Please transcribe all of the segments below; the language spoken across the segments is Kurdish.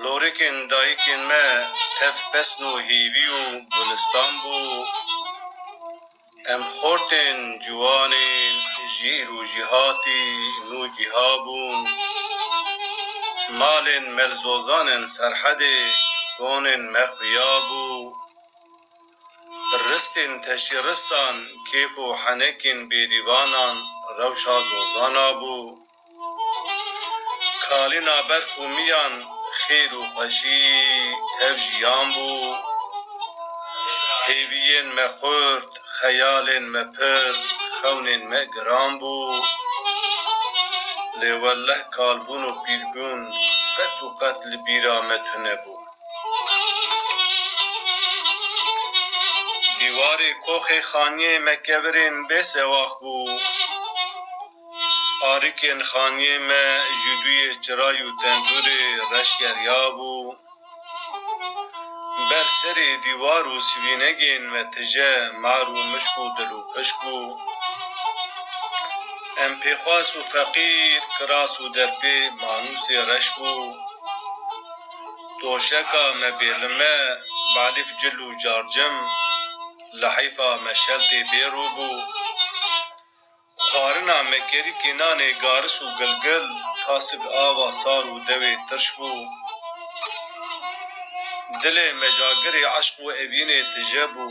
Lorikên dayikên me tev pesn û hîvî û gulistan bû. Em xortên ciwanê jîr û jîhatî nû gîha bûn. Malên melzozanên Serhedê konên me xuya bû. Ristên teşî ristan, kêf û henekên bêrîvanan rewşa zozana bû. Kalîna berf û miyan, xêr û xweşî tev jiyan bû. Hêviyên me xurt, xeyalên me pir, xewnên me giran bû. Lê welleh kalbûn û pîrbûn qet û qet li bîra me tunebû. Dîwarê koxê xaniyê me kevirên bê sewax bû. Arikên xaniyê me ji duyê çiray û tendûrê reş geriyabû. Ber serê dîwar û sivînegên me tije mar û mişk û dil û pişk bû. Em pêxwas û feqîr, kiras û derpê manûsê reş bû. Doşeka me bê li me Elîf cil û car cim Li heyfa me şeltê bê rû bû Xwarina me kerî kênanê garis û gilgil Tasik ava sar û dewê tirş bû Dilê me jagirê eşq û evînê tije bû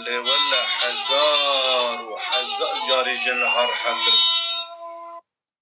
Lê wele hezar û hezar carî jin har hetir bû.